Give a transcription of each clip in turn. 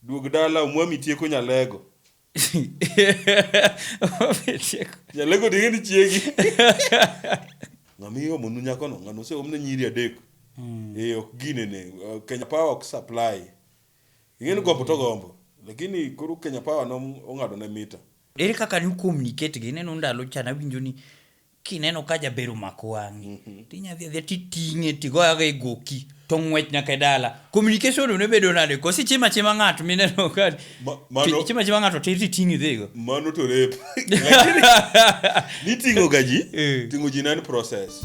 Duog dala omwami tieko nyalego. Omwami tieko. Nyalego to ing'e ni chiegi. Ng'ama iomonu nyakono ng'ano oseomne nyiri adek. Mm. Eh ok ginene. Kenya Power ok supply. Ing'e ni gombo to gombo. Lakini koro Kenya Power no ong'ado ne mita. Ere kaka ne okuomni iketgi? Ineno ndalo cha nawinjo ni. kineno ka jaber omako wang'i mm -hmm. tinya dhi adhiya titing'e tigoyago e goki to ng'wech nyaka e dala communication ne bedo nade kosi chima chima ng'ato mineno ka chima chima ng'ato tir titing'e dhigo mano to rep niting'o ga ji eh. ting'o ji nan process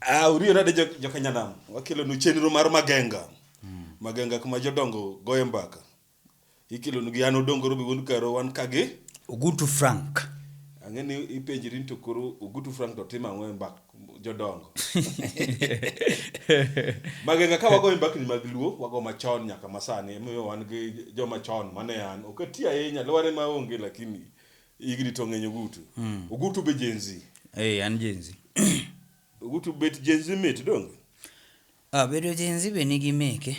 Ah, uriyo nade jo- jokanyanam wakelonu chenro mar magenga magenga kuma jodongo goye mbaka ikelonu gi an odongoro be wuon karo wan kagi Ugutu Frank. ang'e ni ipenjri ni to koro ogutu frank to timo ang'o e mbak jodongo magenga ka wagoyo mbakni mag luo wago machon nyaka masani emomiyo wan gi joma chon mane an ok ati ahinya lware ma onge lakini Igni to ng'eny Ogutu. Mm. Ogutu be Gen Z. Eh, an Gen Z. Ogutu bet Gen Z mit donge? Ah, bedo Gen Z be nigi meke.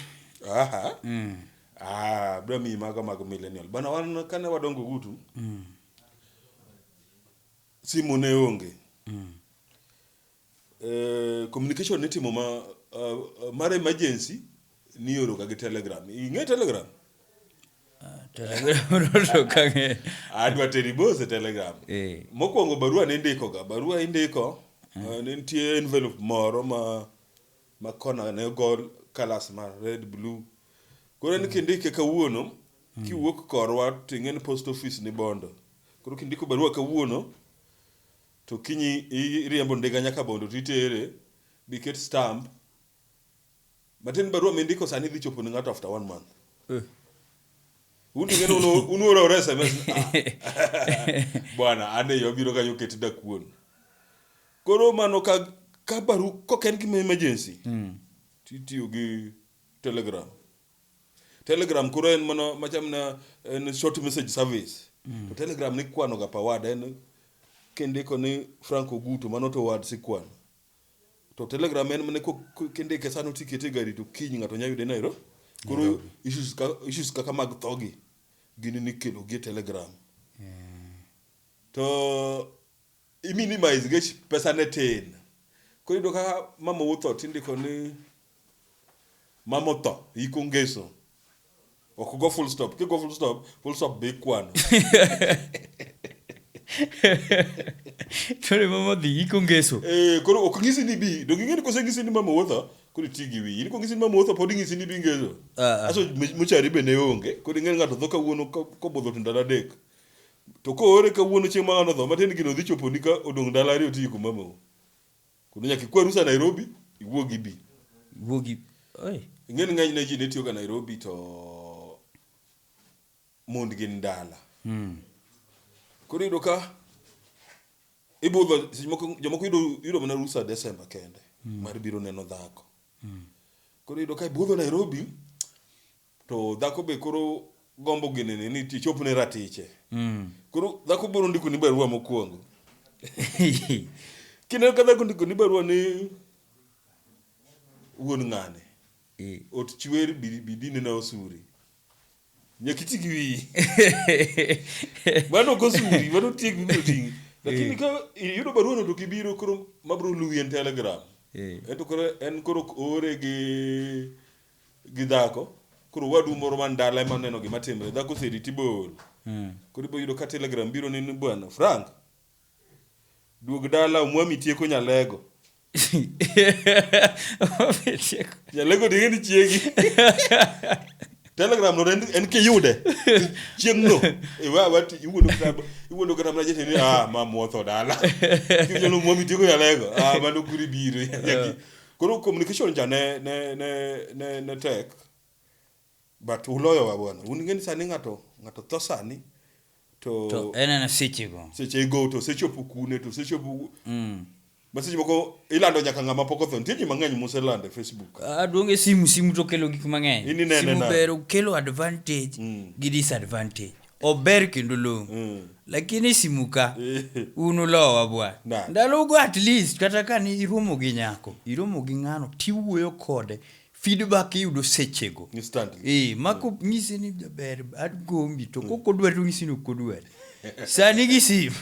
Aha. Mm. Ah, bro mi mago mag millennial. Bana wan kane wadongo Ogutu. Mm. Simu ne onge. Mm. eh, communication nitimo ma uh, mar emergency nioroga gi telegram ing'e telegram ah, adwa teri bose telegram eh. mokwongo barua nindikoga barua indiko eh. uh, nitie envelope moro ma ma kona ne ogol kalas ma red blue koro ni mm. kindike kawuono mm. kiwuok korwa ting'e ni post office ni bondo koro kindiko barua kawuono To kinyi iriembo ndiga nyaka Bondo to itere bi ket stamp. Matieni barua mindiko sani dhi chopo ne ng'ato after one month. Uh. Undi ng'eno uno unuora ora SMS. Bwana ane yo biro kanyo ket dakuon. Koro mano ka ka baru koken gima emergency. Mm. Titiyo gi Telegram. Telegram koro en mana macham na en short message service. Mm. To Telegram ni kwano ga per word en kindiko ni Frank Oguto mano to word si kwano. To Telegram en mana kindike sano tikete gari to kiny ng'ato nya yude Nairobi. Koro issues ka issues kaka mag thogi gini nikelo gi Telegram. Yeah. To i-minimize nikech pesa ne tin. Koro iyudo ka mama otho tindiko ni mama otho, iko ngeso. Ok ogo full stop. Kigo full stop, full stop be ikwano. Tore mama odhi iko ngeso. Eh, koro ok ng'isi ni bi. Donge ing'e ni koseng'isi ni mama otho, koro iti gi wiyi. In kong'isi ni mama otho, pod ing'isi ni bi ngeso. Ah, ah. Aso mochari be ne onge. Koro ing'e ni ng'ato tho kawuono ko- kobudho to ndalo adek. To koore kawuono chieng' mang'ano odho, matiende gino odhi choponi ka odong' ndalo ariyo tiyi kuom mamau. Kendo nyaka ikwa rusa Nairobi, iwuog ibi. Iwuog ibi. Oi. Ing'eni ng'eny ne ji ne tiyoga Nairobi to mond gin dala. Hmm. Koro iyudo ka ibudho seche moko jomoko yudo yudo mana rusa Desemba kende hmm. mar biro neno dhako. Hmm. Koro iyudo ka ibudho Nairobi To dhako be koro gombo ginene ni ti chopne ratiche. Mm. Koro dhako biro ndiko ni barua mokwongo. Kineno ka dhako ndiko ni barua ni wuon ng'ane. Eh. Ot chwer bidine na osuri. Nyaka iti gi wiyi. Mano ok osuri, mano tieg biro ting'i. Lakini eh. ka iyudo barua no to kibiro koro mabiro luwi en telegram. Eh. Ento koro en koro ore gi gi dhako koro wadu moro man dala ema neno gima timre dhako oseriti bol mm. koro ibo yudo ka telegram biro ni bwana frank duog dala omwami tieko nyalego nyalego dinge ni chiegi telegram no en kiyude chieng no iwawati iwuondo kitabu iwuondo kata mna jete ni ah ma motho dala kinyalo mwami tieko nyalego ah mano kuri biro Koro communication cha ne ne ne ne, ne tek but uloyowa bwana. Un ngeni sani ng'ato ng'ato tho sani to, to en en sechego sechego to sechopo kune to sechopo mm. ma seche moko ilando nyaka ng'ama pok otho nitie ji mang'eny muselando e facebook aduong' e simu simu to kelo gik mang'eny Ini nene simu na. ber kelo advantage Mm. gi disadvantage ober kendo long mm. lakini simuka eh. un ulowa bwa ndalogo at least kata ka ni iromo gi nyako iromo gi ng'ano tiwuoyo kode feedback iyudo sechego e, mako mm. nyisi ni jaber adgombi to mm. kokodwa to nyisi ni okodwa sani gi sim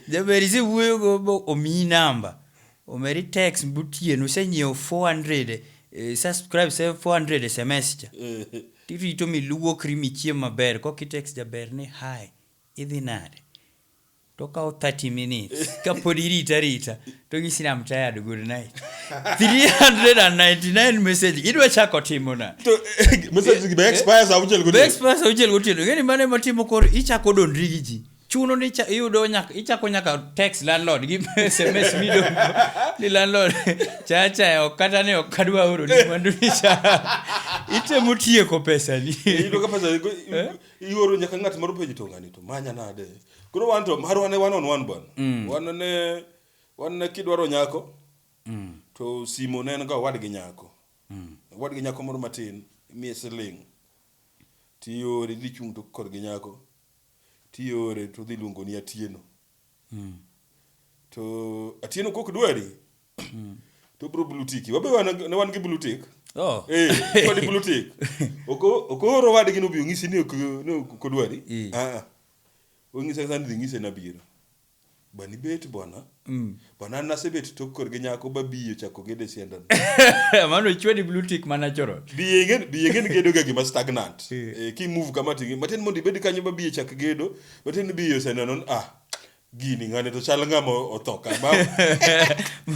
jaber isewuoyogo omiyi namba Omeri text gotieno isenyiewo 400 isesubscribe 400 sms cha tirito miluokri michiem maber koka itext jaber ni hi idhi nade tokawo 30 minutes kapod irita arita tonyisi ni I'm tired good night 399 message idwa chako timo na To message gi be expire saa auchiel be gotieno. expires auchiel gotieno ing'eni mano ema timo koro ichako dondri gi ji chuno ni cha- iyudo nyaka ichako nyaka text landlord gi sms mido ni landlord chacha ok kata ni ok adwa oro ni mwandu ni cha itemo tieko pesa ni iyudo ka pesa ioro nyaka ng'at moro penjo to ng'ani to manya nade koro wan to marwa ne one on one bwana wan ne wan ne kidwaro nyako to simo ne en ga owadgi nyako owadgi nyako moro matin imiye siling tiore dhi chung' to korgi nyako tiore to odhi luongo ni Atieno. Mm. To Atieno kok dwari. Mm. To bro blue tick. Wabe wan, ne wan gi blue tick. Oh. Eh, kod blue tick. Oko okoro wadgi no bi ongisi ni ok no kodwari. E. Ah. Ongisa sani dhi ngise na biro. Bwana ibet bwana. Mm. Bwana an nasebet tok kor gi nyako ba biyo chako gede sienda. Mano chwedi blue tick mana choro. Biye ngen biye ngen gedo ga gima stagnant. Eh. eh ki move kama tingi. Matin mondi bed kanyo ba biye chak gedo. Matin biyo sienda non ah. Gini ngane to chal ngama otho ka ma.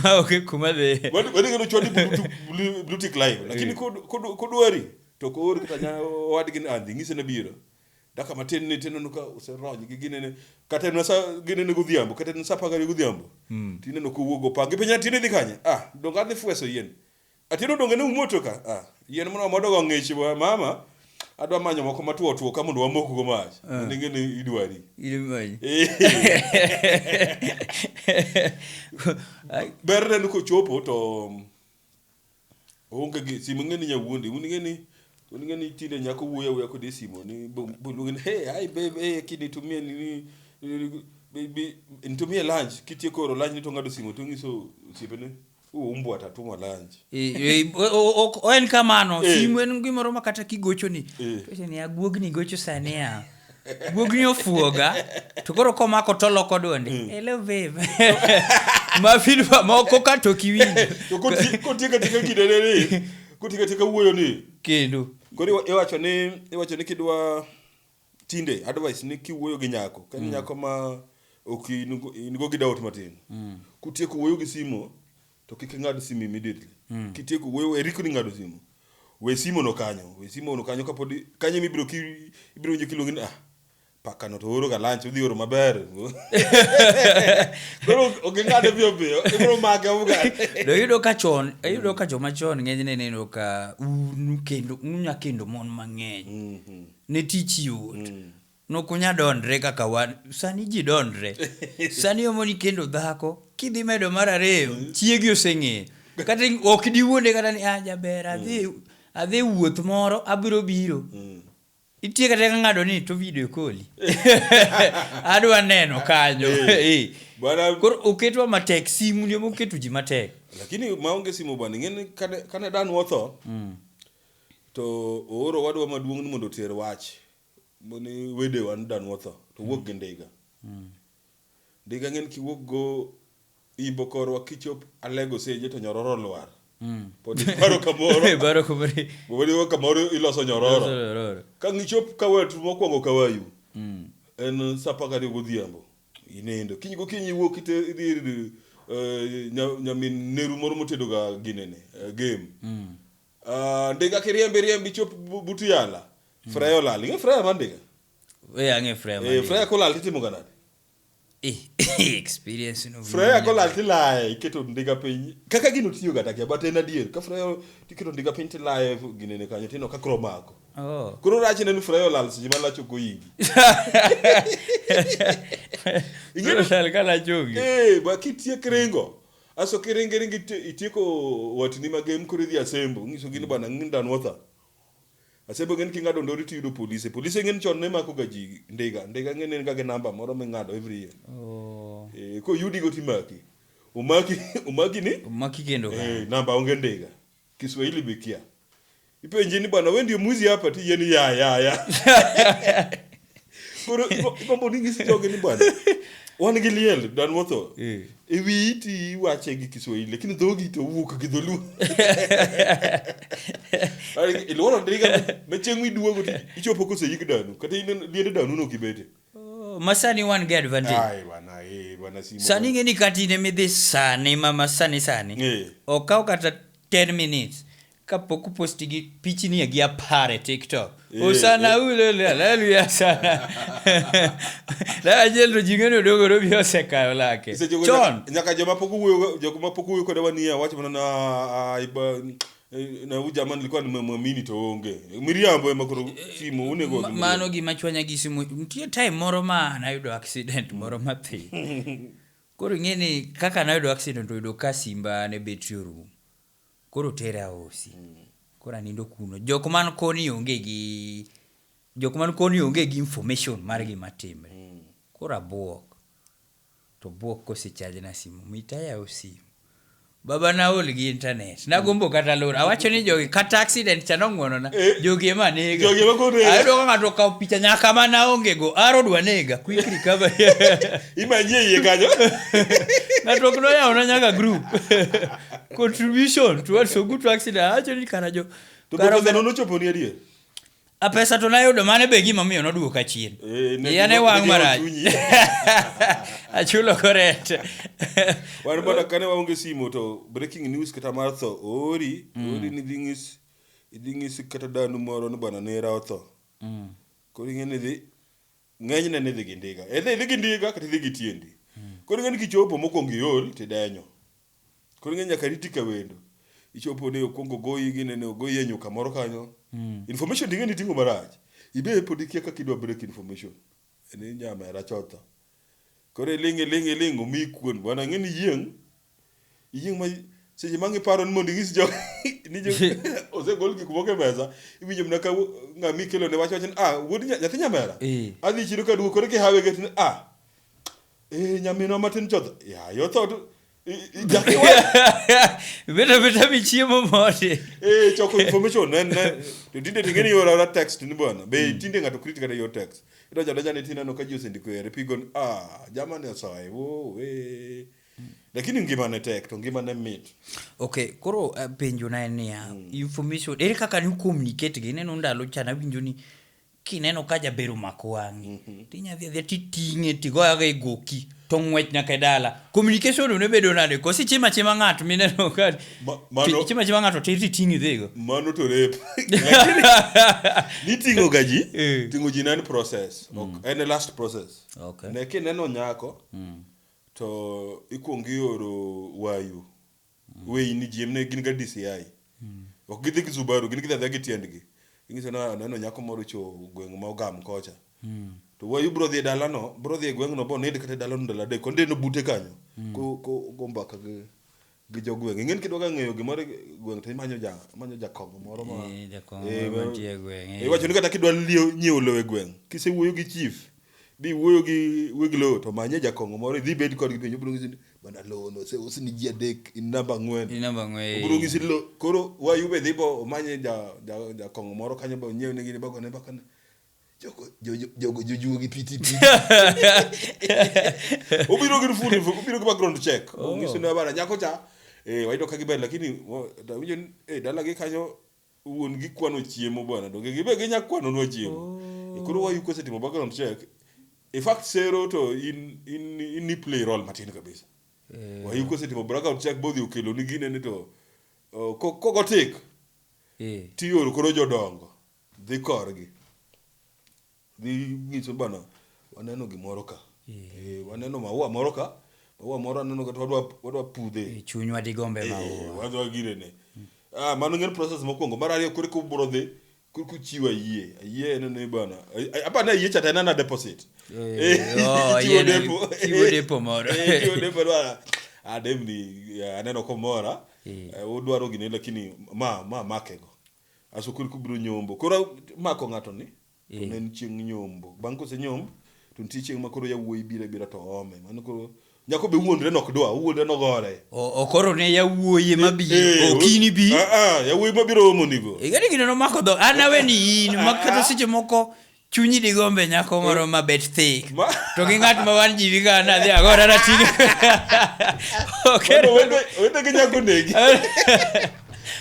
Ma oke kuma de. Wadi wadi ngeno chwedi blue tick live. Lakini eh. kod kod kodwari to kod kata nya wadi gin andi ngise na biro. Daka matin ni tineno ka oserony gi ginene kata en sa ginene godhiambo kata en sa pagari godhiambo. Mm. Tineno ka owuogo pange piny atine dhi kanye. Ah, donga adhi fweso yien. Atino donge ne umoto ka. Ah, yien moro modo go ng'ich mama. Adwa manyo moko matuo tuo ka mondo wamok go mach. Uh. Ah. Ninge ni idwari. Idwari. Ber ne ko chopo to Oonge gi simu ing'eni nyawuondi. Un ing'eni un ing'eni tinde nyako wuoyo awuoya kodi e simu ni bo- boluonge ni hey hi babe hey kid nitumie nini nini- bi- bi- nitumie lunch kitieko oro lunch ni to ng'ado simu to ng'iso osiepene u umbwa tatuma lunch. Eh, eh, o- o- ok- o- en kamano Eh. simu en gimoro ma kata kigochoni Eh. to ni aguogni gocho sani a guogni ofuoga to koro komako to loko dwonde mm. hello babe mafin moko ka to kiwinjo to kotieka tika kidene ni kotieka tika wuoyo ni kendo koro iwacho ni iwacho ni kidwa tinde advice ni kiwuoyo gi nyako ka mm. nyako ma ok in go gi doubt matin mm. kutieko wuoyo gi simo To kik ing'ad simu immediately. Mm. Kitieko we we rikni ng'ado simu. We simu no kanyo, we simu no kanyo kapod kanyo mibiro ki ibiro winjo kiluongi ni ah paka no to oro ga lunch udhi oro maber. Koro ok ing'ade biyo biyo, ibiro mage uga. Do yudo ka chon, yudo ka joma chon ng'eny ne neno ka un kendo unya kendo mon mang'eny. Mm -hmm. Ne tich yot. Mm. Nok unya dondre kaka wan. Sani ji dondre. Sani omo ni kendo dhako, kidhi medo mar ariyo, mm. chiegi oseng'eyo. Kata ok diwuonde kata ni, ah, jaber, mm. adhi, adhi wuoth moro, abiro biro. Mm. Itie kata ka ng'ado ni to video koli. Adwa neno kanyo. Eh. Eh. Bwana kor oketwa matek simu ndio moketu ji matek. Lakini maonge simu bwana ngene kane kane dan wotho. Mm. To ooro wadwa maduong' ni mondo oter wach. mane wedewa ni dan watho to wuok gi ndiga ndiga ng'en kiwuok go imbo korwa kichop alego seje to nyororo lwar pod ibaro kamoro Ibaro kamoro. pod iwe kamoro iloso nyororo Nyororo. ka ngichop kawet mokwongo kawayu Mm. en saa apar gariyo godhiambo inindo kiny gokinyi iwuok ite- idhi ir eh, nya- nyamin neru moro motedoga ginene eh, game Mm. Ah, ndiga kiriembe riembe ichop bu- but yala freya olal ing'e freya mar ndiga we ang'e freya Eh, mane. freya kolal titimoga nade Eh, experience no freya kolal tilaye iketo ndiga piny kaka gino tiyo ga takia but en adier ka freya tiketo ndiga piny tilaye ginene kanyo tino ka kro mako oh koro rachne ni freya olal seche ma lach ok oyingi Ing'eyo- Sal kala chongi Eh, ba kitiek ringo Aso kiringi ringi iti- itieko watni magem koro idhi asembo ngiso gini bwana ngin dan watha. Asembo ngin kingado ndori tiyudo polise. Polise ngin chon ne mako ga ji ndiga. Ndiga ngin en ga gi namba moro mingado every year. Oh. Eh, ko yudi go timaki. Omaki omaki ni Maki kendo ka. eh, namba onge ndiga. Kiswahili be kia. Ipenje ni bwana wewe ndio mwizi hapa ti yeni ya ya ya. Koro ipo- ipambo ni ngisi joge ni bwana. Wan gi liel dan wotho. Eh. E wiyi ti wache gi Kiswahili lakini dhogi to wuok gi dholuo. Ari iluoro ndiga me chieng' miduogo ti ichopo kose yik danu kata in liende danu no kibete. Oh, masani wan gi advantage Ai bana, eh, bana simo. sani ing'e ni kata in ema idhi sani ma ma sani sani Eh. okaw kata 10 minutes kapok uposti gi pichni e gi apar e tiktok Eh, usana eh. ulele haleluya sana lajendo jing'eni odogoro bi osekayo lake Seche go chon nyaka- Nyaka joma pok owuoyo, joma pok owuoyo koda wanie wacho mana na ai ba Eh, na huyu jamaa nilikuwa nimemwamini to onge miriambo ema koro simu unego Ma- mano gima chwanya gi simu nitie time moro ma nayudo accident moro mapiyo koro ing'e ni kaka nayudo accident oyudo ka simba ne betri orumo koro tera osi koro anindo kuno jok man koni onge gi jok man koni onge gi information mar gima timre koro abwok To buok kose charge na simu mit ayaw simu baba na aol gi internet nagombo kata lor awacho ni jogi kata accident cha nong'wonona eh. jogi ema nega jogi ema kore ayudo ka ng'ato okawo picha nyaka ma naonge go aro dwa nega quick recovery imanyie iye kanyo ng'ato ok noyawo na nyaka group contribution to what so good to accident awacho ni kara jo to kara nochoponi adier A pesa to nayudo mane be gima miyo noduoka chien. Eh, ne Iya ne gima- wang' ne gima marach. chunyi. Achulo koret. wan bana kane waonge simo to breaking news kata mar tho ori ori ni dhi ng'is idhi ng'is kata danu moro ni bana nera otho koro ing'e ni dhi ng'enyne ni dhi gi ndiga edhi idhi gi ndiga kata idhi gi tiendi koro ing'e ni kichopo mokwongo iol tidenyo Koro ing'e nyaka riti ka wendo. Ichopo ni okwongo ogoyi gine ni ogoyi e nyuka moro kanyo. Mm. Information ting'e ni ting'o marach. Ibe pod ikia kaka idwa break information. Ni nyamera chotho. Koro iling' iling' iling' omi kuon. Bwana ng'e ni iyieng'. Iyieng' ma seche ma ng'iparo ni mondo inyis jo ni jo osegol gik moko e mesa, iwinjo mana ka wo- ng'ama ikelo ne wach wacho ni ah wuod nya- nyathi nyamera. Eh. Adhi chiro ka duogo koro kihawe get ni ah Eh, nyaminwa matin chodh yaye otho to i- i- jaki wa- beta beta michiemo mode eh, choko information ne ne to tinde ting'e ni ioro ora text ni bwana be tinde ng'ato krit kata yor text idonjo adonja ni tineno ka ji osendiko ere pigo ni ah jamani osoye wo we lakini ngima ne tek to ngima ne mit okay koro uh, penjo na en niya information ere kaka ni communicate gi ineno ndalo cha nawinjo ni kineno ka jaber omako wang'i mhm. tinya dhi adhiya titing'e tigoyago e goki to ng'wech nyaka e dala communication ne bedo nade kosi chima chima ng'ato mineno ka chima chima ng'ato tir titing'i dhigo mano to rep niting'o ga ji eh. ting'o ji en process mm. en last process ne kineno nyako mm. to ikwongo ioro wayu Wei ni jiem ne gin ga DCI. Ok gidhi gi Subaru, gin gidhi adhiya gi tiendgi. Inyiso na aneno nyako moro ocho gweng' ma ogam kocha. To wayu bro dhi e dalano, bro dhi e gweng'no bo nind kata e dalano ndalo adek. Ondieno bute kanyo. Ko ko go mbaka gi gi jo gweng'. Ing'eni kidwa ga ng'eyo gimoro e gweng' to imanyo ja imanyo jakong'o moro ma. Eh, jakong'o Eh, moro mantie e gweng', eh. Iwacho ni kata kidwa lieo nyiewo lowo e gweng', kisewuoyo gi chief, Dhi wuoyo gi weg lowo to manye jakong'o moro idhi bed kodgi piny obiro nyisi ni bana lowo no oseus ni ji adek in namba ang'wen. In namba ang'wen. Obiro nyisi lo koro wayu be dhi bo omanye ja ja jakong'o moro kanyo bo nyiew ne gini bagone bakane. Jogo jo- jo- jogo jojuo gi piti piti. Obiro gi full info, obiro gi background check. Oh. Onyisi ni bana nyako cha eh wayudo ka giber lakini wo- to awinjo ni eh dalagi kanyo wuon gi kwano chiemo bwana donge gibe ginya kwano nwa chiemo oh. koro wayu kosetimo background check in fact sero to in in in ni play role matin kabisa yeah. wayu kosetimo background check bodhi okelo ni gine ni to uh, kogo tik yeah. tioro koro jodongo dhi korgi Ginyise bana, waneno gimoro ka. Eh, waneno maua moro ka. Maua moro aneno kata wadwa wadwa pudhe. Eh, chunywa digombe Eh, maua. wadwa girene. Ah, mano ng'en process mokwongo. Mar ariyo koro kubro dhi koro kuchiwo ayie. Ayie en ni bana. ay- ay- Apa na ayie cha tena na deposit. Eh, oh, chiwo ayie na- depo. chiwo depo moro. Eh, chiwo depo dwa. Ah, demni eh, aneno komora. Eh. Eh, Udwaro gini lakini ma ma makego. Aso koro kubiro nyombo. Koro mako ng'ato ni to ne en chieng' nyombo. Bang' kose nyomb to nitie chieng' ma koro yawuoyi biro abira to ome. Mano koro nyako be wuondre nok dwa, owuondre nogore. O- Okoro ne yawuoyi ma bi, Eh, okini bi. Ah, ah, yawuoyi mabiro omonigo. Igani gino nomako dho, an aweni in, ma kata seche moko chunyi digombe nyako moro ma bet thick Ma- to gi ng'at ma wan ji wiga nadhi agora nating'e wete gi nyako negi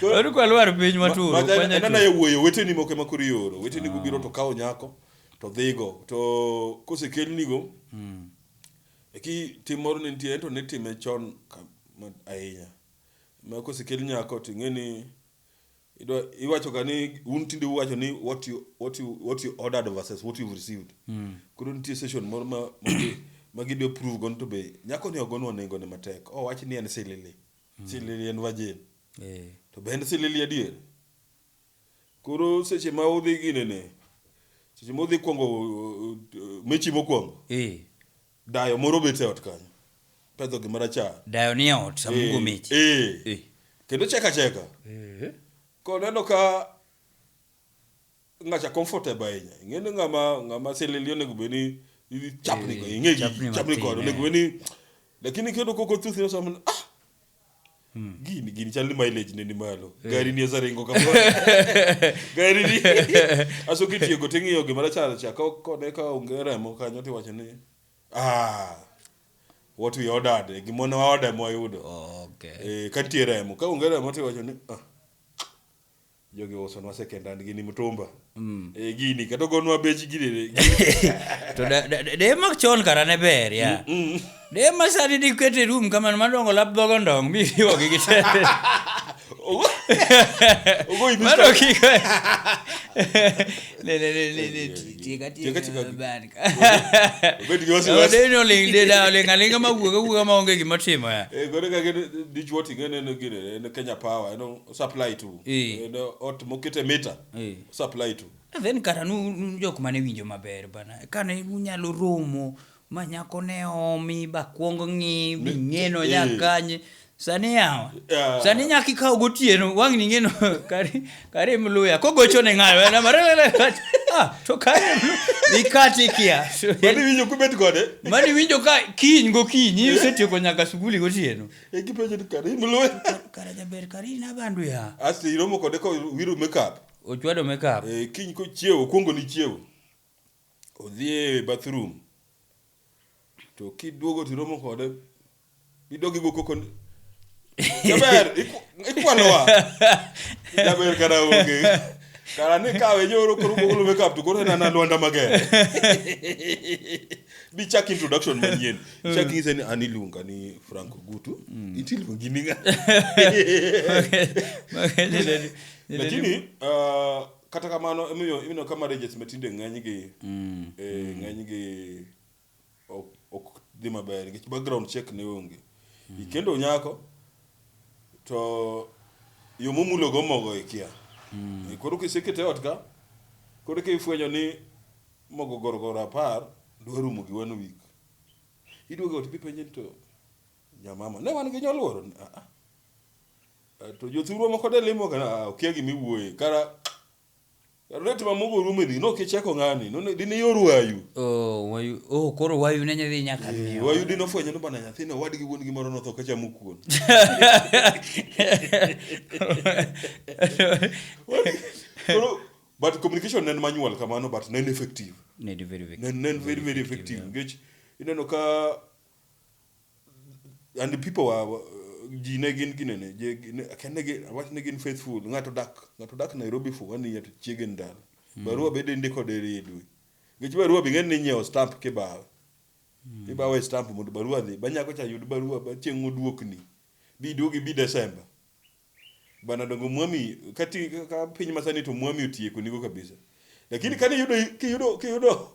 oru kwa lwar piny maturo enana ye wuoyo weteni moko ema koro ioro weteni gobiro to kawo nyako to dhigo to kosekelnigo eki tim moro ne nitie ento ne time chon ka- ma- ahinya ma kosekel nyako to ing'e ni Idwa, iwacho ga ni un tinde uwacho ni what you, what you, what you ordered versus what you've received mm. koro nitie session moro ma, ma, ma gidwa prove go to be nyako ni ogonwa nengo ne matek o wach ni en silili mm. silili en virgin yeah. to be en silili adier koro seche ma udhi ginene seche ma udhi kwongo uh, mechi mokwongo yeah. Dayo moro bet e ot kanyo. Pedho gima rachar. Dayo ni e ot sama ugo mechi. Eh. Eh. Kendo cheka cheka. Eh. Koneno ka ngacha comfortable ahinya. Ing'eni ng'ama ng'ama silili onego bed ni chapni go ing'egi chapni kod onego bed ni lakini kendo koko thuth ni sama ah gini gini chal ni mileage ne ni malo gari ni oseringo kamoro gari ni aso kitieko ting'iyo gima rachar cha ka kone ka onge remo kanyo tiwacho ni ah what we ordered eh, gima ne waorder ema wayudo okay. eh, ka nitie remo ka onge remo tiwacho ni ah Jogi usonwa second hand gini mtumba. Mm. E, gini kata ogonwa bech gini. to de, de, de mak chon kara ne ber ya. Mm, mm. De ma sani di kwete room kamano madongo lap dhogo ndong mi riwo gi gitete. Ogo. Ogo ibi. Mano kiko. Le le le le le tika tika tika ban. Ogo di wasi wasi. Ogo no ling de da ling alinga ma wuga wuga ma onge gima timo ya. E gore ka gini dichwo tingene no gini ne Kenya Power no. osupply to Eh. Eh, do- ot mokete mita Eh. osupply to And then kata nu- nu jok mane winjo maber bana kane unyalo romo ma nyako ne omi bakwong ng'i bing'eno eh. nyakanye sani yawa Yeah. sani nyaka ikaw gotieno wang' ning'eno kari kari mluya kogocho ne ng'ayo ena marelele ah to kari mlu- ikati kia mani winjo kubet kode mani winjo ka kiny gokinyi isetieko nyaka sukuli gotieno ekipenjo ni kare in lwe kare jaber kare in abandu ya asto iromo kode ka wiro makeup ochwado makeup Eh, kiny kochiewo okuongo ni chiewo odhi e bathroom to kiduogo tiromo kode idogi go koko ni, jaber iku- ikwalowa jaber kara onge kara ni kawe nyoro koro golo makeup to koro en ana lwanda mager Bi chak introduction manyien. Chak ng'ise ni an iluonga ni Frank Ogutu. Iti iluongi ni ng'a? Lakini ah, kata kamano imiyo imiyo ka marriages ma tinde ng'enygi eh, ng'enygi ok ok dhi maber nikech background check ne onge. Ikendo nyako to yo momulogo mogo ikia. Koro kisekete ot ka koro kifwenyo ni Mogo gorogoro apar dwa rumo gi one week. Iduogo ot idhi penje ni to jamama ne wan gi nyoluoro ni ah, ah. To jothurwa moko de limo kana ah, okia gima iwuoye kara rate ma mogo rumo ni no kicheko ng'ani no ne- dine yor wayu. Oh, wayu, oh, koro wayu ne nyadhi nyaka Eh, miyo. Wayu dine ofwenyo ni bana nyathina wadgi wuon gi moro notho ka chamo kuon. Koro but communication ne en manual kamano but ne en effective Ne en very, very, ne ne en very very effective nikech ineno ka and the people were were- ji ne gin ginene je- gi- ne- akia ne gin- awach ne gin faithful ng'ato dak ng'ato dak Nairobi for one year to chiege ndalo barua bende ndiko deri e dwe nikech barua bing'e ni nyiewo stamp kibawe ibawe stamp mondo barua dhi banyako cha yud barua ba chieng' oduokni biduogi bi Desemba Bana dongo mwami kati ka piny masani to mwami otieko nigo kabisa. Lakini kani yudo kiyudo kiyudo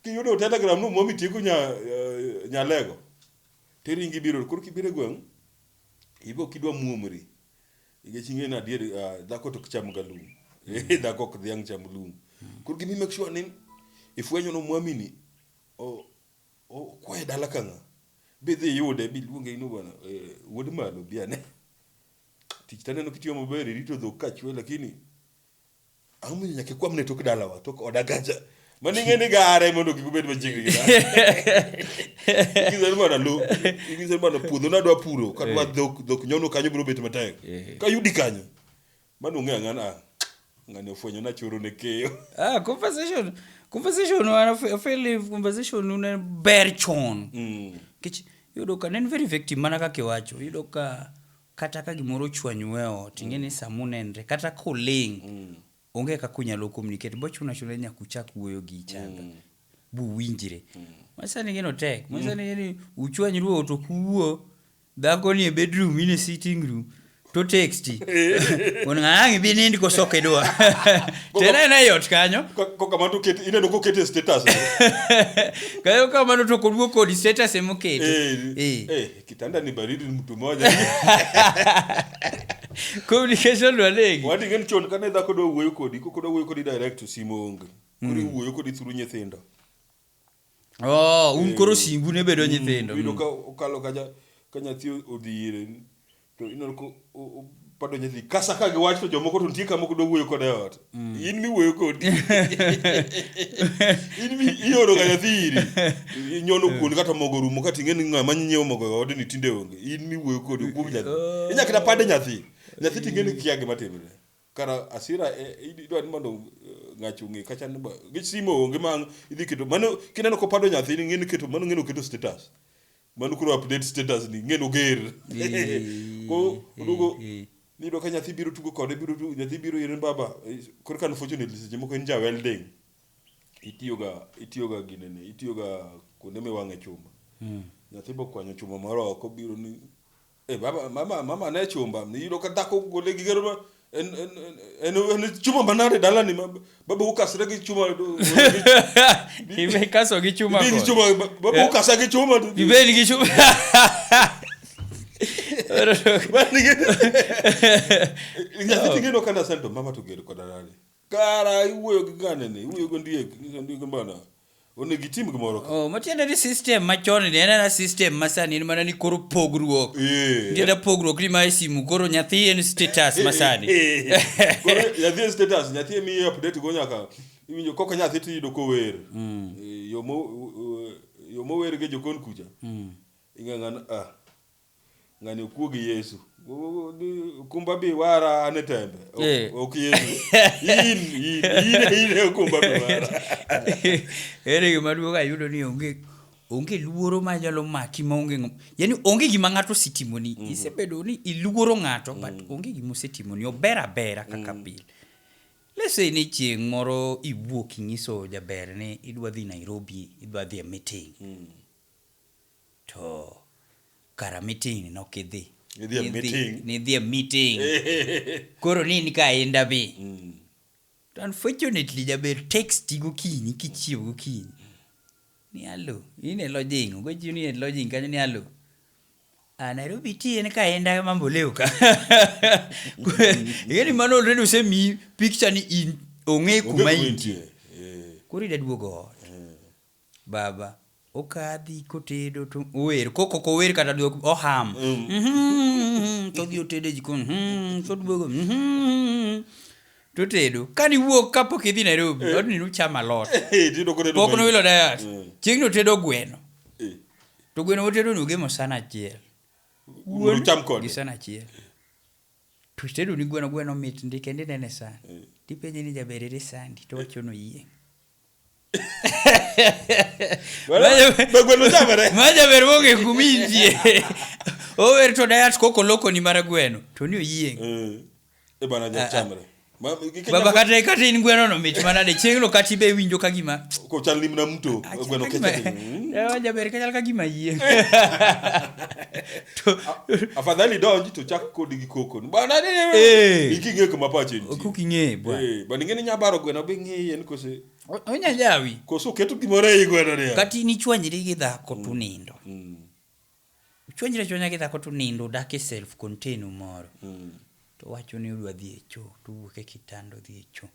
kiyudo telegram no mwami tieko nya uh, nyalego. Teringi biro koro kibire gweng ibo kidwa muomri. Ige chinge na dier uh, ah, dhako to kicham galum. Mm. dhako ok dhiang cham lum. Mm. Koro gimi make sure ni ifwenyo no mwami ni o Okwaye dala ka ng'a? Be idhi iyude biluonge in owuon wuod malo bi ane. Tich to aneno kitiyo maber irito dhok ka chwe lakini ang'o momiyo nyaka ikwamne tok dalawa tok oda kacha mano ing'e ni gare mondo kik ubed machiegni gi dala mana lo ing'ise mana puodho nadwa puro kadwa eh. dhok dhok nyono kanyo biro bet matek eh. kayudi kanyo Mano ong'e ang'ana an. Ng'ani ofwenyo na choro ne keyo. Ah, conversation. Conversation wana fe- feel conversation una ber chon. Mm. Kech yudo ka nen very effective mana kaka iwacho. Yudo ka kata ka gimoro ochwanyu e ot, ing'e ni sama unenre kata koling' Mm. onge kaka unyalo communicate. Bochuna chuna nyaka uchak wuoyo gi ichanga. Mm. Bu winjre. Masani gino tek. Masani ni uchwanyru e ot ok uwuo. Dhako ni e bedroom in e sitting room to texti wuon ng'ato ang' ibi nind koso kidwa to en aena e ot kanyo Kokamano to ineno koket e status. kayo kamano to koduok kodi status ema oketo Eh, Eh. eh, kitanda ni baridi ni mtu mmoja. communication walegi Wadi ng'en chon kane dhako dwa wuoyo kodi, koko dwa wuoyo kodi direct to simo onge. Koro iwuoyo kodi through nyithindo. Oh, un koro simbu ne bedo nyithindo. Iyudo ka okalo kacha ka nyathi odhi ire to ineno ko pado nyathi kasa ka giwach to jomoko to nitie kamoko dwa wuoyo kode ot. Mm. In miwuoyo kodi. In mi ioro ga nyathi iri. Inyono mm. kuon kata mogo rumo kata ing'e ni ng'a ma nyiewo mogo e odni tinde onge. In miwuoyo kodi kuom nyathi. Oh. Inyakita pade nyathi. Nyathi ting'e ni kia gima timre. kara asira e, e, idwa ni mondo eh, ng'achi ong'e kacha ni gi simo onge ma idhi keto mano kineno ko pado nyathi ni ng'eni keto mano ng'eni oketo status mano koro update status ni ng'eni oger ko odugo ni do ka nyathi biro tugo kode biro tugo nyathi biro yeren baba eh, koro kan fortunately seche moko en ja welding itiyoga itiyoga ginene itiyoga kuonde miwang'e chuma hmm. nyathi bokwanyo chuma moro oko biro ni E baba mama mama ne chumba niyudo ka dhako gole gi gero ma- en en en en- en chuma manade dalani ma baba ukasre gi chuma Ikaso gi chuma Ibedi gi kod. chuma ba- baba Eh? ukasa gi chuma to- Ibedi gi chuma. Nyathi ting'e no kana sento mama to gero koda dalani. Kara iwuoyo gi gane ni? Iwuoyo gi ondiek, ni ondiek mbana. Onego itim gimoro ka. Oh, matiende ni system machon ni en ana system masani en mana ni koro pogruok. Eh. Nitiere pogruok ni mae simu koro nyathi en status masani. Eh, eh, eh. Koro nyathi e status, nyathi emiyi update go nyaka iwinjo koko nyathi tiyudo kower. Mm. Eh, Yo mo eh, yo mower gi jokon kucha. Mm. Ing'ang'an ah. ng'ani okuo gi yesu okumba bi wara an e tembe Ok- Eh. ok yesu in in in in e okumba bi wara ere gima duogo ayudo ni onge onge luoro ma nyalo maki ma onge ng'am- yani onge gima ng'ato osetimoni isebedo ni iluoro ng'ato but onge gima osetimoni ober abera kaka pile lese ni chieng' moro iwuok inyiso jaber ni idwa dhi nairobi idwa dhi e meeting To kara meeting nok idhi. Nidhi e meeting. Nidhi e meeting. Koro ni in ka inda bi. Mm. To unfortunately jaber texti gokinyi kichiew gokinyi. Ni alo, in e lodging, ogochi ni e lodging kanyo ni alo. A Nairobi ti en ka inda mambo leo ka. Igeni mano already usemi picture ni in ong'e kuma intie. Koro ida duogo ot. Baba okadhi kotedo to ower koko kower kata duok oham mm. to dhi otedo e jikon mm. to duogo mm. to tedo ka ni wuok ka pok idhi Nairobi mm. odni nuchama lot pok nuwilo dayat mm. chieng' no tedo gweno eh. to gweno otedo nugemo sana achiel wuon gi sana achiel to tedo ni gweno gweno mit ndi kendo inene sana eh. tipenje ni jaberere sandi to wachono yieng' majaber onge kuminjie ower to dayat koko lokoni mar gweno to ni oyieng' eh, eh, ah, ah. baba kata kata in gweno no mit mana de chieng' no kata ibe winjo ka gima ko chal limna mto ah, gweno kecha jaber ka chal ka gima yieng' afadhali donj to chak kodi gi koko bana eh. iking'e kuma pache nitie koking'e bwana eh, bana ing'e ni nyabaro gweno be ng'eye ni kose onya jawi koso keto gimoro ei gweno ni kati ni chwanyri gi dhako mm. tunindo mm. chwanyri chwanya gi dhako tunindo udak e self contain moro mm. to wacho ni udwa dhi e choo to uwuok e kitanda odhi e choo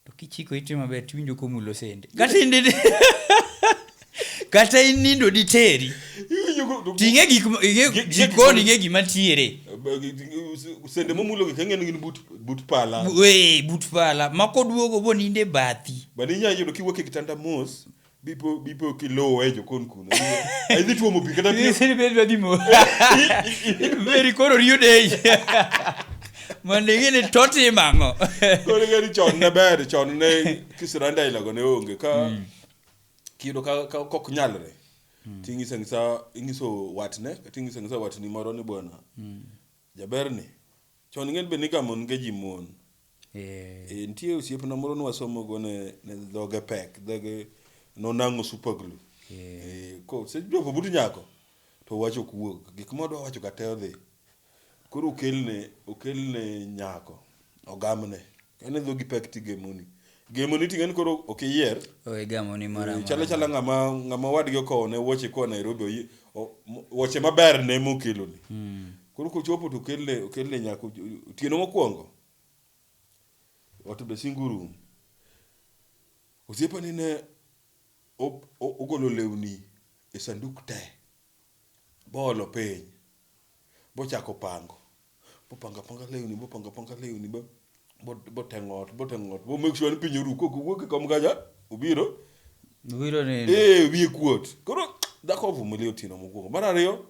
To kichiko ite maber tiwinjo komulo sende. Kata in didi- kata in nindo diteri. Ting'e gik ma- ing'e- Gi- gi- jikon ing'e gima tiere. sende momulogi kang'e ni gin but but pala Bu- ee, but pala ma koduogo bo ninde bathi. bende inyalo yudo kiwuok e kitanda mos bipo bipo kiluwe jokon kuno idhi tuomo pi kata pi Sisi bedi bedi mo. Bedi koro riyo dei. Mande gini toti mango. koro ng'eni chon ne ber chon ne kisiranda ailago ne onge ka kiyudo ka ka kok nyalre ting'isa ng'isa ing'iso watne kata ing'isa ng'isa watni moro ni bwana jaberni Chon ng'eny be nigamo nge ji mon. Eh. Eh, nitie osiepna moro nwasomo go ne, ne dhoge pek, dhoge nonang'o super glue. Yeah. Eh, ko se jopo but nyako to wach ok wuog. Gik ma odwa wacho ka te odhi. Koro okelne, okelne nyako, ogamne. En e dhogi pek tigemoni. Gemoni ting'e ni koro ok iyier. Owe gamoni moro amora. Chalo chala ng'ama ng'ama wadgi okowone wuoche koa Nairobi oyi- o- mo- wuoche maber ne mokeloni. Koro kochopo to okelne okelne nyaka o- otieno mokwongo. Ot be single room. Osiepani ne o- o- ogolo lewni e sanduk te boolo piny. Bochako pango, bopango apanga lewni, bopango apanga lewni, bo boteng'o ot, boteng'o ot, bo make sure ni piny oru kok owuok e kom kacha, obiro. Obiro nindo. Eh, wiye kuot. Koro dhako ovumilia otieno mokwongo. Mar ariyo,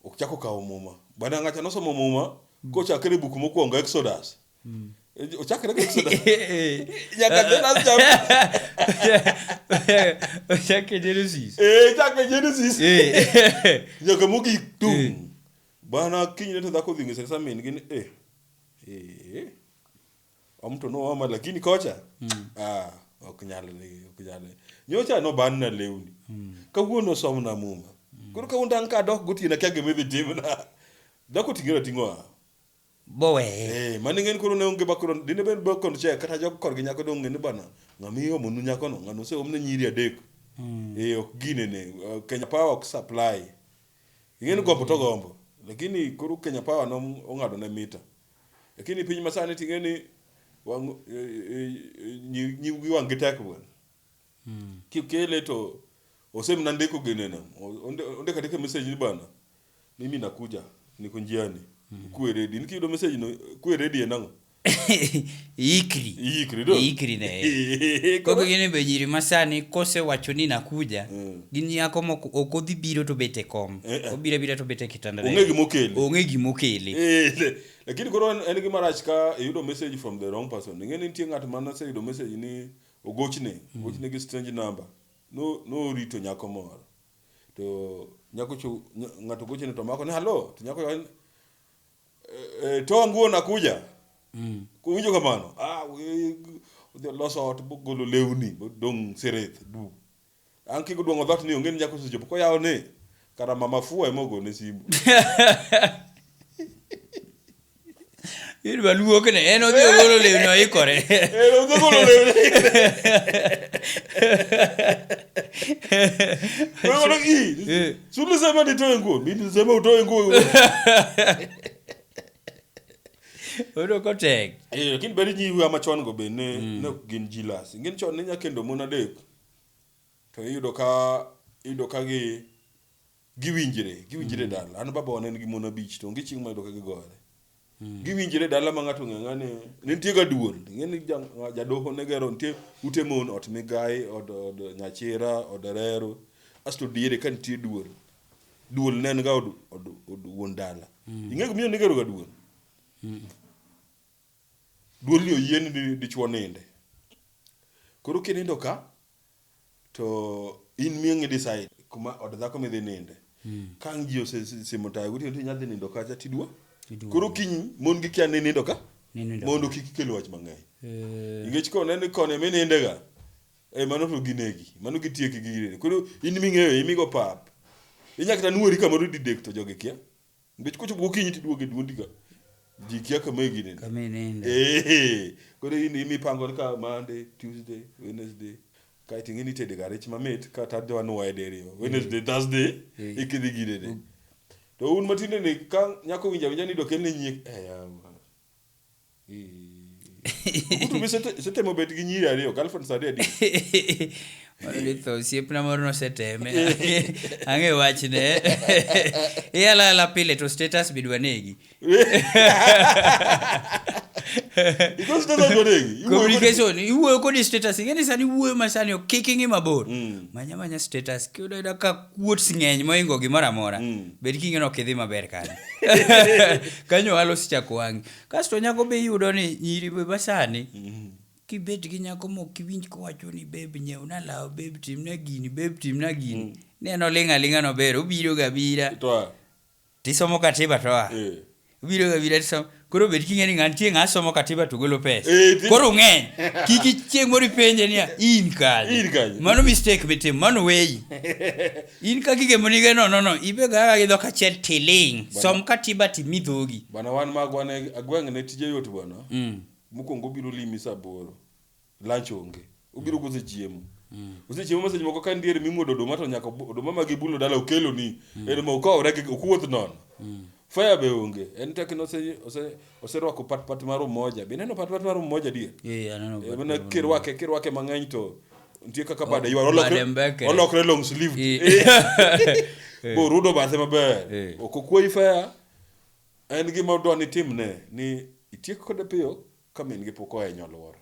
ok chako kawo muma. Bwana Ng'acha nosomo muma kochakre buk mokwongo Exodus. ochakre gi episode nyaka the last chapter ochake genesis eh chakre genesis Eh. nyaka mogik Eh. tum bana kinyne to dhako dhi ng'ise kasa min gini eh eh omto no ama lakini kocha ah ok nyal ni ok nyal ni. nyocha no ban na lewni kawuono som na muma koro kawuono dan ka dok gotiena kya gimidhi timna dhako tingera ting'o a boweye. Eh, mane ng'en koro ne onge bakoro dine bed bakoro che kata jok korgi nyako dong ng'eni bana ng'ama iomo nu nyako no ng'ano ose omne nyiri adek. Mm. Eh, ok gine ne uh, Kenya Power ok supply. Ng'eni gombo to gombo. Lakini koro Kenya Power no ong'ado ne mita. Lakini piny masani ting'eni wang eh, eh, eh, nyi- nyiwgi wang gi tek bwana. Mm. Kikele to osemna ndiko gine no. Onde onde katika message ni bana. Mimi nakuja, niko njiani. Kuwe ready. Nikiyudo message no, kuwe ready en ang'o? Iikri. Iikri, do? Iikri ne. Eh, Koro gini be nyiri masani kosewacho ni nakuja, Mm. gin nyako moko ok odhi biro to bet e kom. Eh, eh. Obiro abira to bet e kitanda. Ong'e gima okele. Ong'e gima okele. Eh, le- lakini koro en en gima rach ka iyudo message from the wrong person ing'e ni nitie ng'at ma noseyudo message ni ogochne ogochne gi strange number no norito nyako moro to nyako cho ng'ato goche ni to mako ni halo to nyako yawa ni e, e, to nguo nakuja mm. winjo kamano ah odhi oloso ot bogolo lewni dong' sereth du an kik odwong'o dhot ni onge ni nyako osechopo koyawo ni kara mama fua ema ogone simu Yud maluok ne en odhi ogolo lewni oikore. En odhi ogolo lewni Wewe wana hii. Si ulisema nitoe nguo? Mimi nilisema utoe nguo. Odo kotek. Eh, lakini beri nyi huyu ama chon go be ne mm. ne gin jilas. Ngin chon ne nyakendo mona dek. To iyudo ka iyudo ka gi Giwinjre, giwinjre dala. An baba wan en gi mon abich to onge chieng' mayudo ka gigore. Giwinjre dala ma ng'ato ng'e ng'ane ne nitie ga duol. Ing'e ni ja- nga- jadoho ne gero nitie ute mon, ot migayi, od, od nyachira, od rero. Asto diere ka nitie duol. Duol ne en ga od, od, od wuon dala. Ing'e gimomiyo ne igero ga duol? Duol ni oyie ni di- dichwo ninde. Koro kinindo ka, To in miyo ing'i decide kuma od dhako midhi ninde. Ka ang' ji osesimo tayo gotieno to inyalo dhi nindo kacha tiduo. Tiduogo. Koro kiny mon gi kia ni nindo ka Ninindo. mondo kik ikel wach mang'eny. Eh, Nikech ka oneno ni koni ema inindega, eh, mano to ginegi, mano gitieki gi gini. Koro in ming'eyo imigo pap. Inyalo kata nuori kamoro didek to jogi kia. nikech kochopo gokinyi tiduoge duondi ka ji kia kama ginene kama inene eh koro in imipango ni ka Monday Tuesday Wednesday kae to ing'eni itede ga rech mamit ka tadde wanwaye diriyo Wednesday Thursday Eh. ikidhi ginene to un matinde ni ka nyako winja winja ni dokelne nyiek eh yawa Kutu be sete- setemo bet gi nyiri ariyo girlfriend sa adedi Mano ni tho osiepna moro noseteme ang'e wachne iyalala pile to status be dwa negi Because it doesn't go negi. You go- communication iwuoyo kodi status ing'eni sani iwuoyo ma sani ok kik ing'i mabor Mm. manya manya status kiyudo ayuda ka kuots ng'eny moingo gimoro amora mm. bed king'eno ok idhi maber kanyo kanyo ohala osechako wangi kasto nyako be iyudo ni nyiri be masani mm. kibet gi nyako mok kiwinj kowacho ni beb nyeuna law beb timna gini beb timna gini mm. neno ling' aling'a nober obiroga abira Tisomo katiba to oa. Eh. Obiro ga bira tisomo. Koro bed king'e ni ng'an tie ng'a somo katiba to golo pesa. Eh, ti- Koro ng'eny. Kiki chieng' moro ipenje niya in kanye. In kanye. Mano mistake mitimo, mano weyi. In ka gige monige no no no, ibe ga gi dhok achiel tiling. Bana- Som katiba timi dhogi. Bana wan magwa ne agweng' ne tije yot bwana. Mm. Mokwongo obiro limi saa aboro. lunch onge obiro mm. kosechiemo mm. osechiemo message moko ka ndier mimuodo oduma to nyaka oduma ma gibulo dala okelo ni mm. en ma okawre gi okuoth nono mm. fire be onge en tek no ose ose oserwako pat pat mar umoja be neno pat pat mar umoja dier yeah, aneno e, mana kirwake kirwake mang'eny to nitie kaka bade oh, ywar olokre olokre long sleeve eh. bo rudo bathe maber eh. ok okwoyi fire en gima odwa ni timne ni itiek kode piyo ka min-gi pok oa e nyoluoro.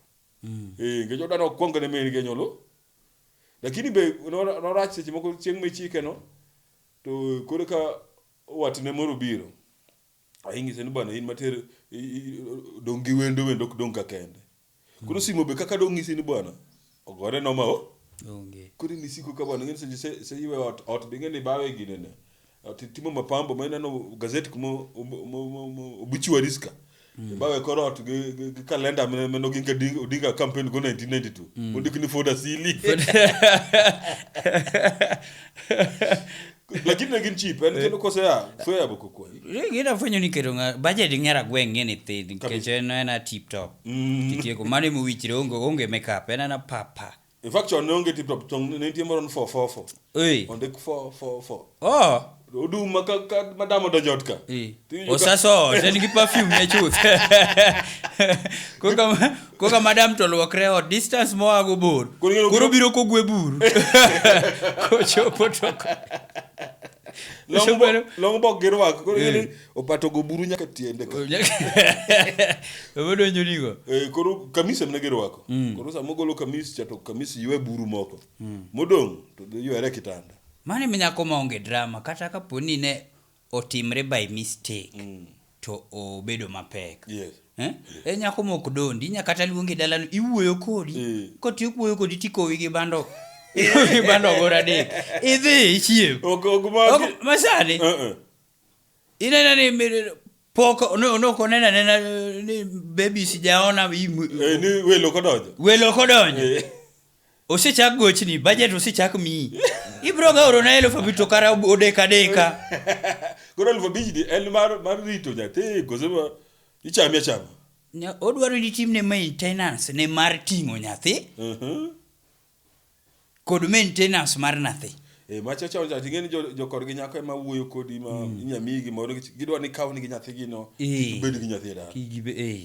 Eh, nikech odwa ni okwong ne min-gi e nyolu. Lakini be nor- norach seche moko chieng' michike no, to koro ka watne moro obiro, ing'ise ni bwana in mater i- i- dong' gi wendo, wendo ok dong' ka kende. Koro simo be kaka dong' ng'isi ni bwana, ogore noma o onge koro in isiko ka bwana ng'eni seche se- se iwe ot ot be ing'eni bawe ginene ot itimo mapambo ma ineno gazet kuma obu- mo- mo- mo- obituaries ka ibawe kor ot gi gi- gi kalenda mane mane oginga Ding- odinga campaign go 1992 ondik ni foda sili lakini ne gin cheap en kendo kose ya soya boko kwani gina fwenyo ni keto nga budget ngera gweng ngene thin nikech en en a tip top Mm. kitieko mano ema owichre onge onge makeup en ana papa in fact chon ne onge tip top chon ne nitie moro ni 444 ei onde 444 oh odum ma ka ka- madam odonjo ot ka ei Tiyudo ka- osaso sen gi perfume ne chuth koka Koka madam to luokre ot distance moa go bor. Koro ing'eyo- Koro biro kogwe buru. Kochopo to. Long bo- long bok gi rwak koro ing'eni opato go buru nyaka tiende ka. Obodonjo nigo. Eh, koro kamis emne girwako koro sama ogolo kamis cha to kamis ywe buru moko modong' to ywere e kitanda Mane mi nyako ma onge drama kata kapo ni ne otimre by mistake to obedo mapek Yes. Eh? e nyako mok dondi inya kata luongi dalano iwuoyo kodi Eh. kotiyo kuoyo kodi tikowi gi bando ikowi gi bando goro adek idhi ichiem Ok- ok ma- Ok, masani Eh, eh. inena ni mi- pok no- nok oneno anena eh, ni baby sijaona im- Eh, ni welo kodonjo welo kodonjo Eh. Osechak gochni, bajet osechak miyi. Ibiro ga orona elufu abich to kara odeka deka. Koro elufu abich ni en mar, mar rito nyathi kose ma ichami achama? Ne odwaro ni timne maintenance ne mar ting'o nyathi Mhm. kod maintenance mar nathi. Eh, ma chacha onja ting'e ni jo- jokor gi nyako ema wuoyo kodi ma inya miyi gimoro nikech gidwa ni kaw nigi nyathigino Eh. kik bed gi nyathi e dala. Kik gibe- eh.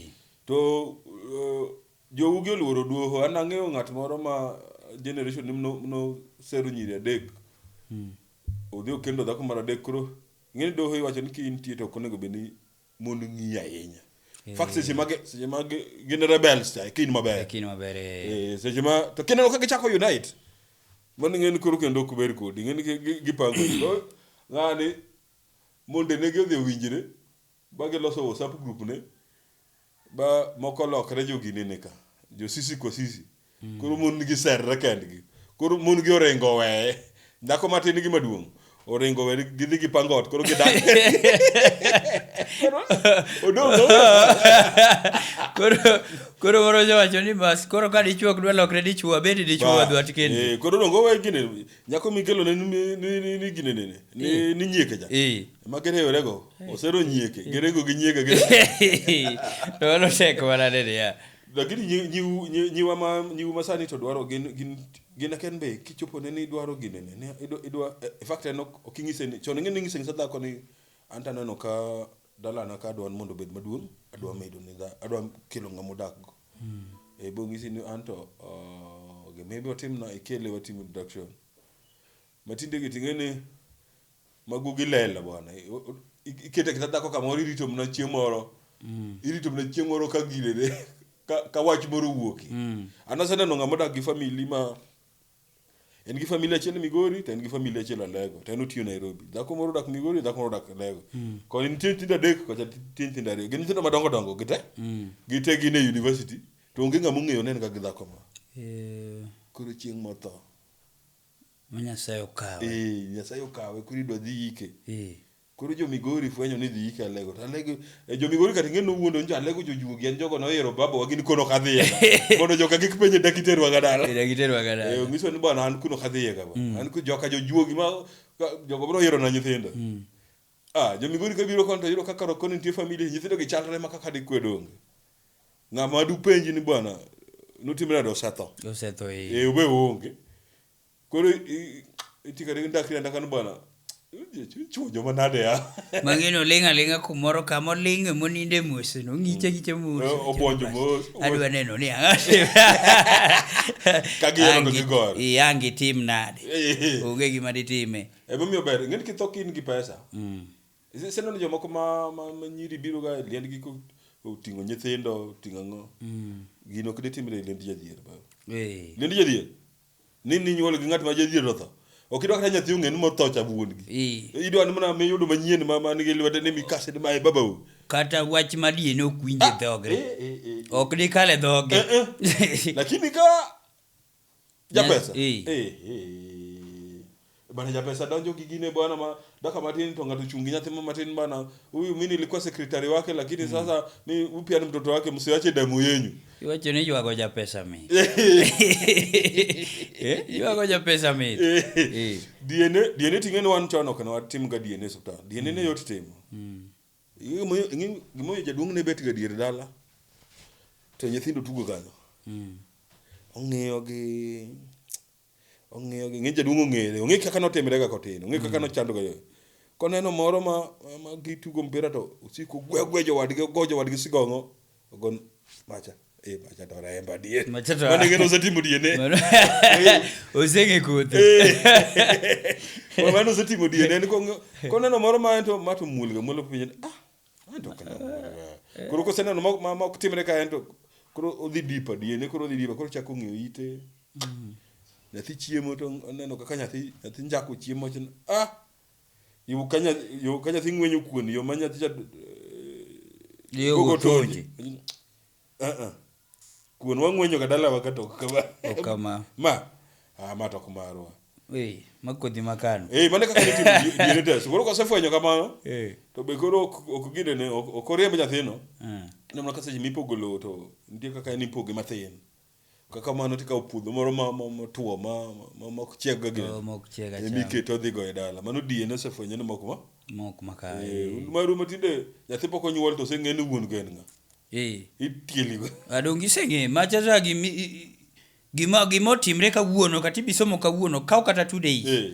To uh, Jou gi oluoro duoho. An ang'eyo ng'at moro ma generation ne no, no sero nyiri adek. Mm. Odhi okendo dhako mar adek koro ing'eni doho iwacho ni kintie to okonego bed ni mon ng'iyi ahinya. E. Fact seche mage seche mage gin rebels cha kin maber. Kin maber. Eh seche ma to kineno ka gichako unite. Mon ng'eni koro kendo ok ber kodi. Ng'eni gipango. Ng'ani monde ne gi odhi owinjre ba giloso WhatsApp group ne. Ba moko olokre joginini ka. Jo sisi kwa sisi. Koro mon gi serre kendgi. Koro mon gi oringo oweye. Dhako matin e gima duong'. Oringo oweye gidhi gipango ot koro gidak. Koro odong' onge. Koro koro moro osewacho ni bas koro ka dichwo ok dwa lokre dichwo abed dichwo Ba, wadwat kendi. eh, Koro odong' owe gine. Nyako mikelo ne ni ni ni gine ni ni ni nyieke cha. Eh. Ema kere yorego, osero nyieke, gerego gi nyieke gin. to mano tek mana nene ya Lakini nyi- nyiu- nyi- nyiwa ma nyiu ma sani to dwaro gin gin gin aken be kichopo ne ni idwaro gine ne ne idwa idwa eh, in fact en ok ok inyise ni chon ing'e ni inyise ng'isa dhako ni an to aneno ka dalana ka adwa ni mondo obed maduong' adwa medo ni dha adwa kelo ng'ama odak go eh bo ng'isi ni an to ah, gima ibiro timna ikele watim introduction Matinde gi ting'eni magugi lela bwana. Ikete kita dhako kamoro irito mna chieng' moro. Mm. Irito mna chieng' moro ka girere ka, ka wach moro wuoki. Mm. An aseneno ng'ama odak gi famili ma en gi famili achiel Migori to en gi famili achiel Alego to en otiyo Nairobi. Dhako moro odak Migori, dhako moro odak Alego. Mm. Ko nitie nyithindo adek kocha nitie nyithindo ariyo. Gin nyithindo madongo dongo gite. Mm. Gite gin e university to onge ng'ama ong'eyo ne en ga gi dhako ma. Eh. Koro chieng' motho. Ma Nyasaye okawe. Ee, Nyasaye okawe koro idwa dhi ike. Ee. Koro jo Migori fwenyo ni idhi ike Alego to Alego e, jo Migori kata ing'e nowuondo njo Alego jojuogi en jogo noyiero babawa gin kono ok adhiyega mondo joka kik penje dak iterwaga dala. Ee, dak iterwaga dala. Ee, ong'iso ni bwana an kuno ok adhiyega bwana. An ku joka jojuogi ma ka- jogo biro yierona nyithindo. Ah, jo Migori kabiro koni to yudo ka karo koni nitie familia, nyithindo gi chalre ma kaka dikwedo onge. Ng'ama dupenji ni bwana notimre nade osetho. Osetho eh. Eh, ube onge. Koro i- iti kare gi ndakri andaka ni bwana chuo joma nade ya. Mang'ino ling' aling'a kumoro kama oling'e moninde mos, nong'iche giche mos. Eh, obwonjo mos. Adwa neno ni ang'o. Ka giyudo to Angi- gigore. Eh, angi tim nade. Eh. Onge gima ditime. Emomiyo ber, ing'eni kitho ka in gi pesa. Mm. Iseneno jomoko ma, ma, ma nyiri biro ga e liendgi ko- oting'o nyithindo, oting'o ang'o. Mm. Gino ok ditimre e liend jadhier. ba. Eh. Liend jadhier. Ni ninyuol gi ng'at ma jadhier otho. Ok idwa kata nyathi ong'e ni motho cha wuongi. Eh. Idwa ni mana miyudo manyien ma man gi lwete ni mikase ni mae babau. Kata wach madie ne ok winje Ah, dhogre. eh, eh, eh. Ok dikale dhoge. Eh, eh. Lakini ka Japesa. Eh. Eh, eh. Bana Japesa donjo gi gine bwana ma daka matin to ng'ato chungi nyathi ma matin bana. Huyu mimi nilikuwa sekretari wake lakini sasa mimi huyu pia ni mtoto wake msiwache damu yenyu. Iwacho ni ywago japesa mi. Eh, ywago japesa mi. Eh. DNA DNA ting'e ni wan chon ok ne watim ga DNA e osiptal. DNA ne yot timo. Gimomiyo jaduong' ne betga dier dala to nyithindo tugo kanyo. Hmm. Ong'iyo gi ong'iyo gi ng'e jaduong' ong'ere, ong'e kaka notimrega kotin, ong'e kaka hmm. nochandoga yo. Koneno moro ma gitugo mpira to osiko gwe gwe jowadgi, ogo jowadgi sigong'o, ogon macha. Eh, macha to remba die. Macha to- Mane ngero osetimo die ne. osenge kothe Mama mane osetimo die ne ko koneno moro ma ento ma to mulga mulo piny. Ah. Ento kana. Koro koseneno ma- ma ma ok timre ka ento koro odhi dipa die ne koro odhi dipa koro chako ng'iyo ite. Nyathi chiemo to oneno kaka nyathi nyathi njako chiemo to ah Yo ka nya- yo ka nyathi ng'wenyo kuon, yo ma nyathi cha Yo gogo gotonje. tonje. Ah, ah. Kuon wang'wenyo ka dalawa ka tok kama. Ok kama. Ma, ah, ma tok marwa. Ee, ma kodhi ma kano. Eh, mane kaka nitimo gi- gini test. Koro kasefwenyo kamano, Ee. to be koro ok ok gine ne ok ok oriemb nyathino. Ah. Ineno ka seche mipogo lowo to nitie kaka en ipoge mathin. Ka kamano tikawo puodho moro ma- ma- motwo ma ma- mok chieg ga gini. To mok chieg acham. Emi keto odhi go e dala. Mano diye nosefwenyo ni mok ma. Mok maka. Eh, un maru matinde nyathi pok onyuol to oseng'e ni wuon go en ng'a. Eh. Itieli go. Adong giseng'e macha za gimi i- i- gima gima otimre kawuono kata ibisomo kawuono kaw kata two days. Eh.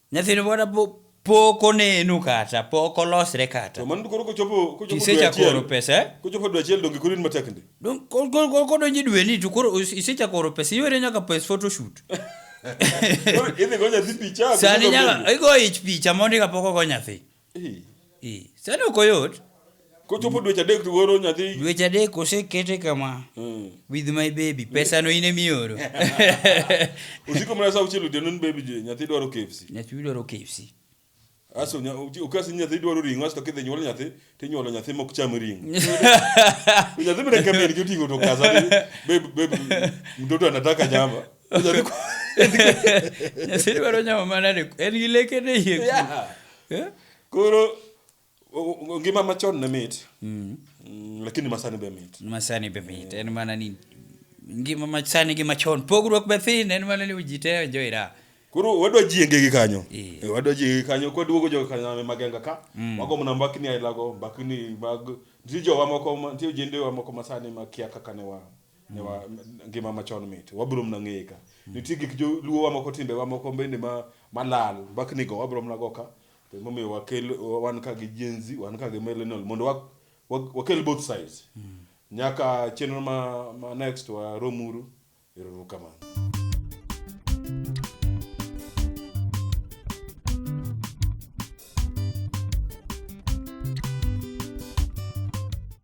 Nyathino pod apo pok oneno kata, pok olosre kata. To mano koro kochopo kochopo dwe Kisecha achiel. koro pesa, eh? Kochopo dwe achiel donge koro in matek ndi. Dong- ko- ko- ko- Kodonjo e dweni to koro is- isechako oro pesa, iwere nyaka pes photoshoot. Koro idhi go nyathi picha. Sani nyaka igo ich picha mondi kapok ogo nyathi. Sani ok oyot. Kochopo dweche adek to goro nyathi. Dweche adek osekete kama. Hmm. With my baby. Pesa no ine mioro. Usiko mna sa uchelo de nun baby je nyathi dwaro KFC. Nyathi dwaro KFC. Aso nya ukasi nyathi dwaro ringo asto kidhi nyuol nyathi to nyuolo nyathi mok cham ringo. Nyathi mna kambi ni jotingo to kaza baby baby mtoto anataka nyama. Nyasaye dwaro nyama manade? En gi leke ne yie. Yeah. Eh? Koro o- o- ngima machon ne mit. Mm, Lakini masani be mit. Masani be mit. En mana ni ngima masani gi machon. Pogruok be thin. En mana ni ji te enjoy ra. Koro wadwa jienge gi kanyo. Eh. Eh, Wadwa jienge gi kanyo kwa duogo jo kanyo magenga ka. Mago mna mbakni ailago, mbakni mag nitie jowa moko ma- nitie jendewa moko masani makia kaka ne wa Nyawa- ngima machon mit wabiro mna ng'eye ka nitie gik joluo wa moko timbe wa moko bende ma malal mbakni go wabiro mna go ka to emomiyo wakel wan ka gi jenzi wan ka gi millennial mondo wa, wa, wakel both sides nyaka chenro ma, ma next waromuru eruru kamano